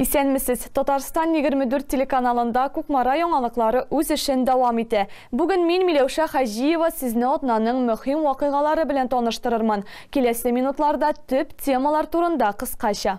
Исәнмесез. Татарстан 24 телеканалында Кукмара яңалыклары үз эшен дәвам итә. Бүген мин Миләүшә Хаҗиева сезне атнаның мөһим вакыйгалары белән таныштырырмын. Киләсе минутларда төп темалар турында кыскача.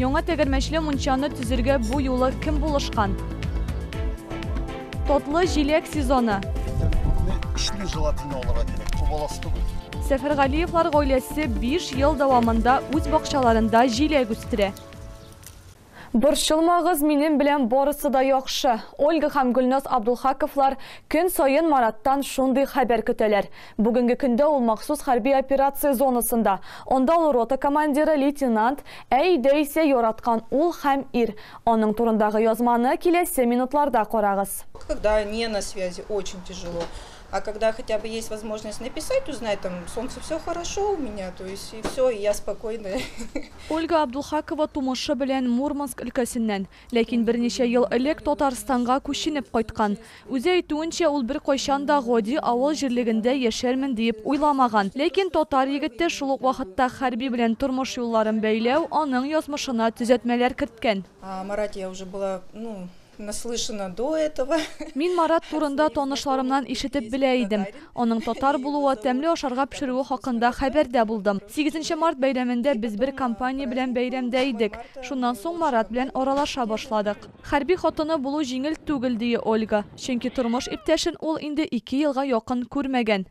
Яңа тәгәрмәчле мунчаны төзергә бу юлы кем булышкан? Татлы җиләк сезоны. Көчле желатин алырга кирәк, күп аласы түгел. Сәфәргалиевлар гаиләсе 5 ел дәвамында үз бакчаларында җиләк үстерә. Борчылмагыз, минем белән барысы да яхшы. Ольга һәм Гөлназ Абдулхаковлар көн саен Мараттан шундый хәбәр көтәләр. Бүгенге көндә ул махсус хәрби операция зонасында. Анда ул рота командиры, лейтенант, ә өйдә исә яраткан ул һәм ир. Аның турындагы язманы киләсе минутларда карагыз. Когда не на связи очень тяжело а когда хотя бы есть возможность написать узнать там солнце все хорошо у меня то есть и все и я спокойная. Ольга Абдулхакова тумышы белән Мурманск өлкәсеннән. Ләкин берничә ел элек Татарстанга күченеп кайткан. Үзе әйтүенчә, ул беркайчан да гади авыл җирлегендә яшәрмен диеп уйламаган. Ләкин татар егете шул ук вакытта хәрби белән тормыш юлларын бәйләү аның язмышына төзәтмәләр керткән. Марат, я уже была, ну, наслышана до этого. Мин Марат турында танышларымнан ишетеп белә идем. Аның татар булуы, тәмле ашарга пешерүе хакында хәбәрдә булдым. Сигезенче март бәйрәмендә без бер компания белән бәйрәмдә идек. Шуннан соң Марат белән аралаша башладык. Хәрби хатыны булу җиңел түгел, ди Ольга. Чөнки тормыш иптәшен ул инде ике елга якын күрмәгән.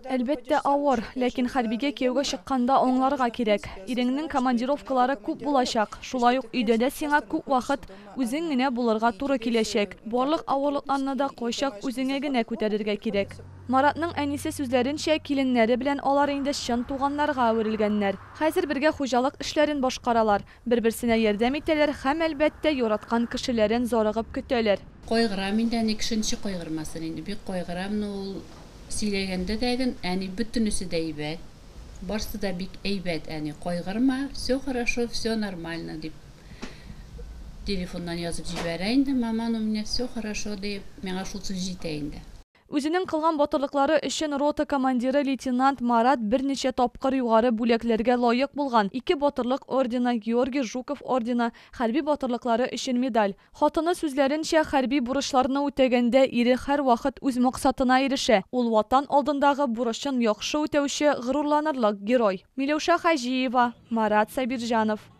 Әлбәттә, авыр. Ләкин хәрбигә кияүгә чыкканда аңларга кирәк. Иреңнең командировкалары күп булачак. Шулай ук өйдә дә сиңа күп вакыт Үзең генә булырга туры киләчәк. Барлык авырлыкларны да кайчак үзеңә генә күтәрергә кирәк. Маратның әнисе сүзләренчә, киленнәре белән алар инде чын туганнарга әверелгәннәр. Хәзер бергә хуҗалык эшләрен башкаралар, бер-берсенә ярдәм итәләр һәм, әлбәттә, яраткан кешеләрен зарыгып көтәләр. Кайгырам инде, әни кешенче кайгырмасын инде. Бик кайгырам, но ул сөйләгәндә дә гөн, әни, бөтенесе дә әйбәт, барсы да бик әйбәт, әни, кайгырма, всё хорошо, всё нормально, дип. Телефоннан язып җибәрә инде, маман, у меня все хорошо, диеп, миңа шул сүз җитә инде. Үзенең кылган батырлыклары өчен рота командиры лейтенант Марат берничә тапкыр югары бүләкләргә лаек булган, ике Батырлык ордены, Георгий Жуков ордены, хәрби батырлыклары өчен медаль. Хатыны сүзләренчә, хәрби бурычларны үтәгәндә ире һәрвакыт үз максатына ирешә, ул Ватан алдындагы бурычын яхшы үтәүче, горурланырлык герой. Миләүшә Хаҗиева, Марат Сабирҗанов.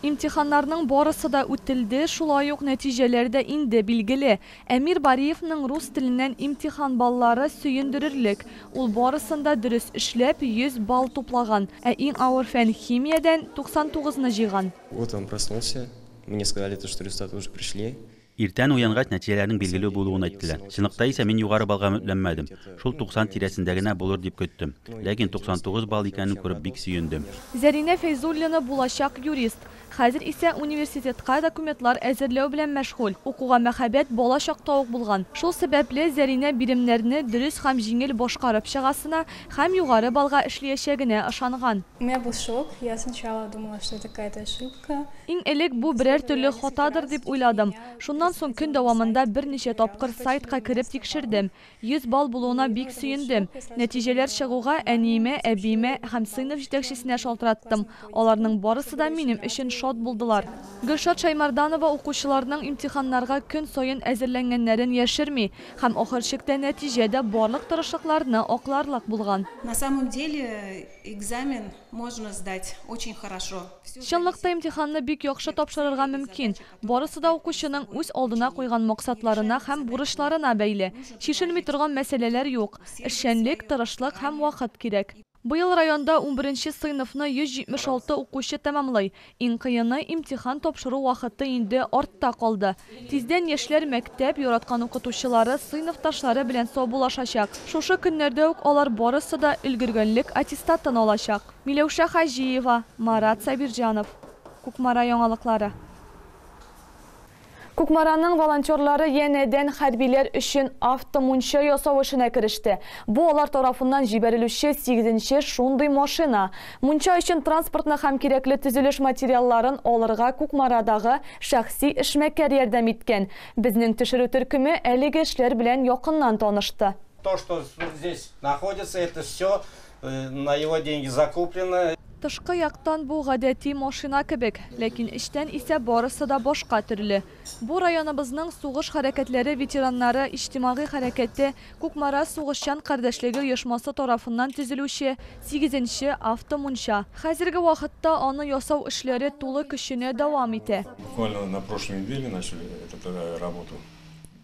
Имтиханнарның барысы да үтелде, шулай ук нәтиҗәләр дә инде билгеле. Әмир Бариевның рус теленнән имтихан баллары сөендерерлек, ул барысын да дөрес эшләп, 100 балл туплаган, ә иң авыр фән, химиядән, 99 ны җыйган. Утром проснулся, мне сказали то, что результаты уже пришли. Иртән уянгач, нәтиҗәләрнең билгеле булуын әйттеләр. Чынлыкта исә мин югары баллга өметләнмәдем. Шул 90 тирәсендә генә булыр дип көттем. Ләкин 99 балл икәнен күреп бик сөендем. Зәринә Фәйзуллина булачак юрист. Хәзер исә университетка документлар әзерләү белән мәшгуль. Укуга мәхәббәт бала чакта ук булган. Шул сәбәпле, Зәринә биремнәрне дөрес һәм җиңел башкарып чыгасына һәм югары баллга эшлиячәгенә ышанган. Мә бу шок, я сначала думала, что я такая даже. Иң элек бу берәр төрле хатадыр дип уйладым. Шуннан соң көн дәвамында берничә тапкыр сайтка кереп тикшердем. 100 балл булуына бик сөендем. Нәтиҗәләр чыгуга, әниемә, әбиемә һәм сыйныф җитәкчесенә шалтыраттым. Аларның барысы да минем өчен шат булдылар. Гөлшат Шәймарданова укучыларның имтиханнарга көн саен әзерләнгәннәрен яшерми һәм ахыр чиктә нәтиҗә дә барлык тырышлыкларны акларлык булган. Чынлыкта имтиханны бик яхшы тапшырырга мөмкин. Барысы да укучының үз алдына куйган максатларына һәм бурычларына бәйле. Чишелми торган мәсьәләләр юк. Эшчәнлек, тырышлык һәм вакыт кирәк. Быел районда унберенче сыйныфны 176 укучы тәмамлый. Иң кыены, имтихан тапшыру вакыты инде артта калды. Тиздән яшьләр мәктәп, яраткан укытучылары, сыйныфташлары белән саубуллашачак. Шушы көннәрдә үк алар барысы да өлгергәнлек аттестатын алачак. Миләүшә Хаҗиева, Марат Сабирҗанов, Кукмара яңалыклары. Кукмараның волонтерлары янәдән хәрбиләр өчен автомунча ясау эшенә кереште. Бу алар тарафыннан җибәрелүче сигезенче шундый машина. Мунча өчен транспортны һәм кирәкле төзелеш материалларын алырга Кукмарадагы шәхси эшмәкәр ярдәм иткән. Безнең төшерү төркеме әлеге эшләр белән якыннан танышты. То, что здесь находится, это все На его деньги закуплено. Тышкы яктан бу гадәти машина кебек, ләкин эчтән исә барысы да башка төрле. Бу районыбызның сугыш хәрәкәтләре ветераннары иҗтимагый хәрәкәте Кукмара сугышчан кардәшлеге оешмасы тарафыннан төзелүче сигезенче автомунча. Хәзерге вакытта аны ясау эшләре тулы көченә дәвам итә. Буквально на прошлой неделе начали эту работу.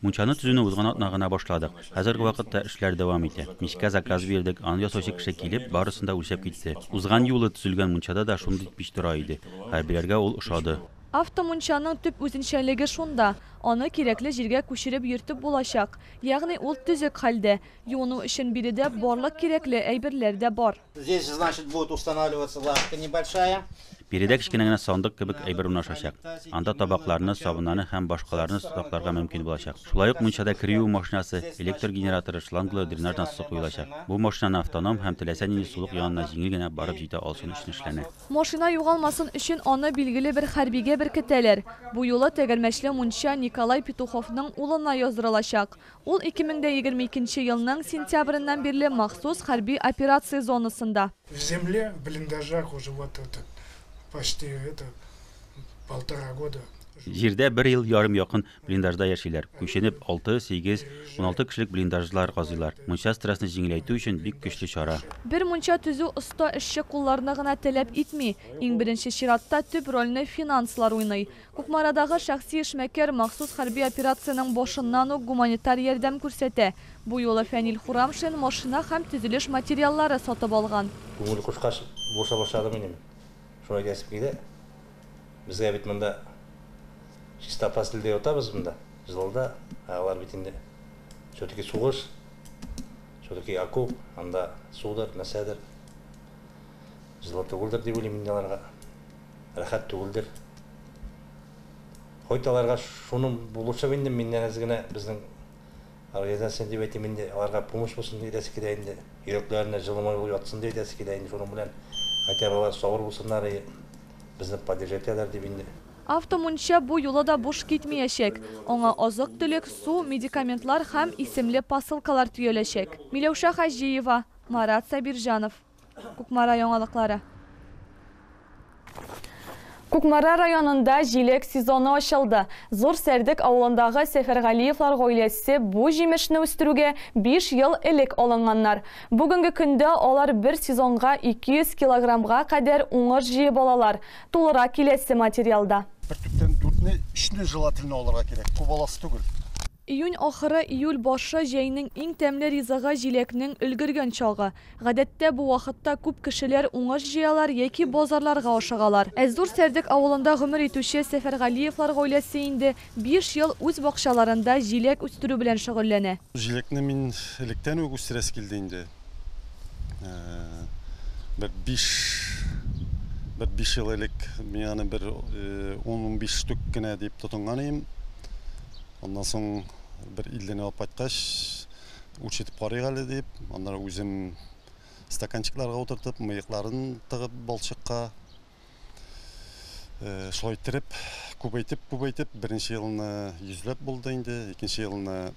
Мунчаны төзүне узган атна гына башладык. Хәзерге вакытта эшләр дәвам итә. Мичкә заказ бирдек, аны ясаучы кеше килеп, барысын да үлчәп китте. Узган юлы төзелгән мунчада да шундый пич тора иде. Хәрбиләргә ул ошады. Автомунчаның төп үзенчәлеге шунда, аны кирәкле җиргә күчереп йөртеп булачак. Ягъни ул төзек хәлдә. Юыну өчен биредә барлык кирәкле әйберләр дә бар. Здесь, значит, будет устанавливаться лавка небольшая. Биредә кечкенә генә сандык кебек әйбер урнашачак. Анда табакларны, сабыннарны һәм башкаларны сакларга мөмкин булачак. Шулай ук мунчада кер юу машинасы, электр генераторы, шланглы дренаж насосы куелачак. Бу машинаны автоном һәм теләсә нинди сулык янына җиңел генә барып җитә алсын өчен эшләнә. Машина югалмасын өчен аны билгеле бер хәрбигә беркетәләр. Бу юлы тәгәрмәчле мунча Николай Петуховның улына яздырылачак. Ул 2022 нче елның сентябреннән бирле махсус хәрби операция зонасында. В земле, в блиндажах уже вот это почти это полтора года. Җирдә бер ел ярым якын блиндажда яшиләр. Күченеп, алты, сигез, уналты кешелек блиндажлар казыйлар. Мунча стрессны җиңеләйтү өчен бик көчле чара. Бер мунча төзү оста эшче кулларны гына таләп итми, иң беренче чиратта төп рольне финанслар уйный. Кукмарадагы шәхси эшмәкәр махсус хәрби операциянең башыннан ук гуманитар ярдәм күрсәтә. Бу юлы Фәнил Хурамшин машина һәм төзелеш материаллары сатып алган. Күңел кушкач, булыша башладым инде мин. Шулай диясем килә. Безгә бит монда чистота телдә ятабыз монда, җылыда. Ә алар бит инде все-таки сугыш, все-таки окоп, анда судыр, нәрсәдер, җылы түгелдер дип уйлыйм инде аларга. Рәхәт түгелдер. Хоть аларга шуның булышып инде миннән әз генә безнең организация дип әйтим инде, аларга помощь булсын дип әйтәсе килә инде, йөрәкләренә җылымай булып ятсын дип әйтәсе килә инде, шуның белән хотя бы алар сабыр булсыннар и безне поддержать итәләр дип инде. Авто мунча бу юлы да буш китмиячәк. Аңа азык-төлек, су, медикаментлар һәм исемле посылкалар төяләчәк. Миләүшә Хаҗиева, Марат Сабирҗанов. Кукмара яңалыклары. Кукмара районында җилек сезоны ачылды. Зур Сәрдек авылындагы Сәфәргалиевлар гаиләсе бу җимешне үстерүгә биш ел элек алынганнар. Бүгенге көндә алар бер сезонга 200 килограммга кадәр уңыш җыеп алалар, тулырак киләсе материалда. Бер төптән дүртне, өчне желательно алырга кирәк, кубалас түгел. Июнь ахыры, июль башы, җәйнең иң тәмле ризыгы, җиләкнең өлгергән чагы. Гадәттә, бу вакытта күп кешеләр уңыш җыялар яки базарларга ашыгалар. Ә Зур Сәрдек авылында гомер итүче Сәфәргалиевлар гаиләсе инде биш ел үз бакчаларында җиләк үстерү белән шөгыльләнә. Җиләкне мин электән үк үстерәсе килде инде. бер биш бер биш ел элек мин аны бер ун-унбиш штук кенә дип тотынган идем. Аннан соң бер 50-не алып кайткач, үлчәтеп карыйк әле дип, аннары үзем стаканчикларга утыртып, мыекларын тыгып балчыкка шулай иттереп, күбәйтеп-күбәйтеп, беренче елны 100 ләп булды инде, икенче елны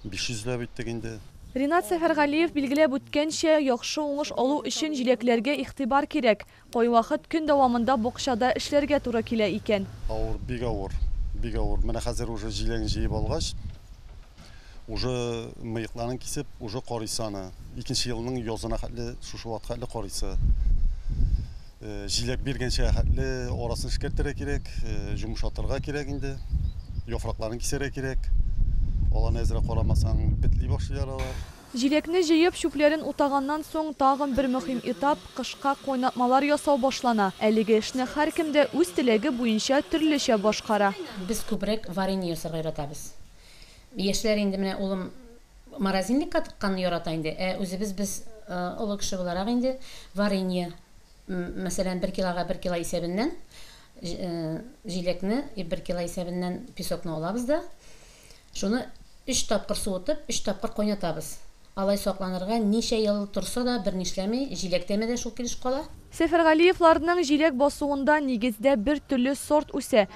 500 ләп иттек инде. Ринат Сәфәргалиев билгеләп үткәнчә, яхшы уңыш алу өчен җиләкләргә игътибар кирәк. Кайвакыт көн дәвамында бакчада эшләргә туры килә икән. Авыр, бик авыр, бик авыр. Менә хәзер уже җиләген җыеп алгач, уже мыекларын кисеп, уже карыйсы аны. Икенче елның язына хәтле, шушы вакытка хәтле карыйсы. Җиләк биргәнчә хәтле арасын эшкәртергә кирәк, җомшатырга кирәк инде. Яфракларын кисәргә кирәк. Аларны әзрәк карамасаң, бетли башлыйлар алар. Җиләкне җыеп, чүпләрен утаганнан соң, тагын бер мөһим этап, кышка кайнатмалар ясау башлана. Әлеге эшне һәркем дә үз теләге буенча төрлечә башкара. Без күбрәк варенье ясарга яратабыз. Яшьләр инде менә улым Морозильникка тыкканны ярата инде, ә үзебез без олы кеше буларак инде варенье, мәсәлән, бер килога бер кило исәбеннән җиләкне, бер кило исәбеннән песокны алабыз да, шуны өч тапкыр суытып, өч тапкыр кайнатабыз. Алай сакланырга, ничә ел торса да, берни эшләми, җиләк тәме дә шул килеш кала. Сәфәргалиевларның җиләк басуында нигездә бер төрле сорт үсә.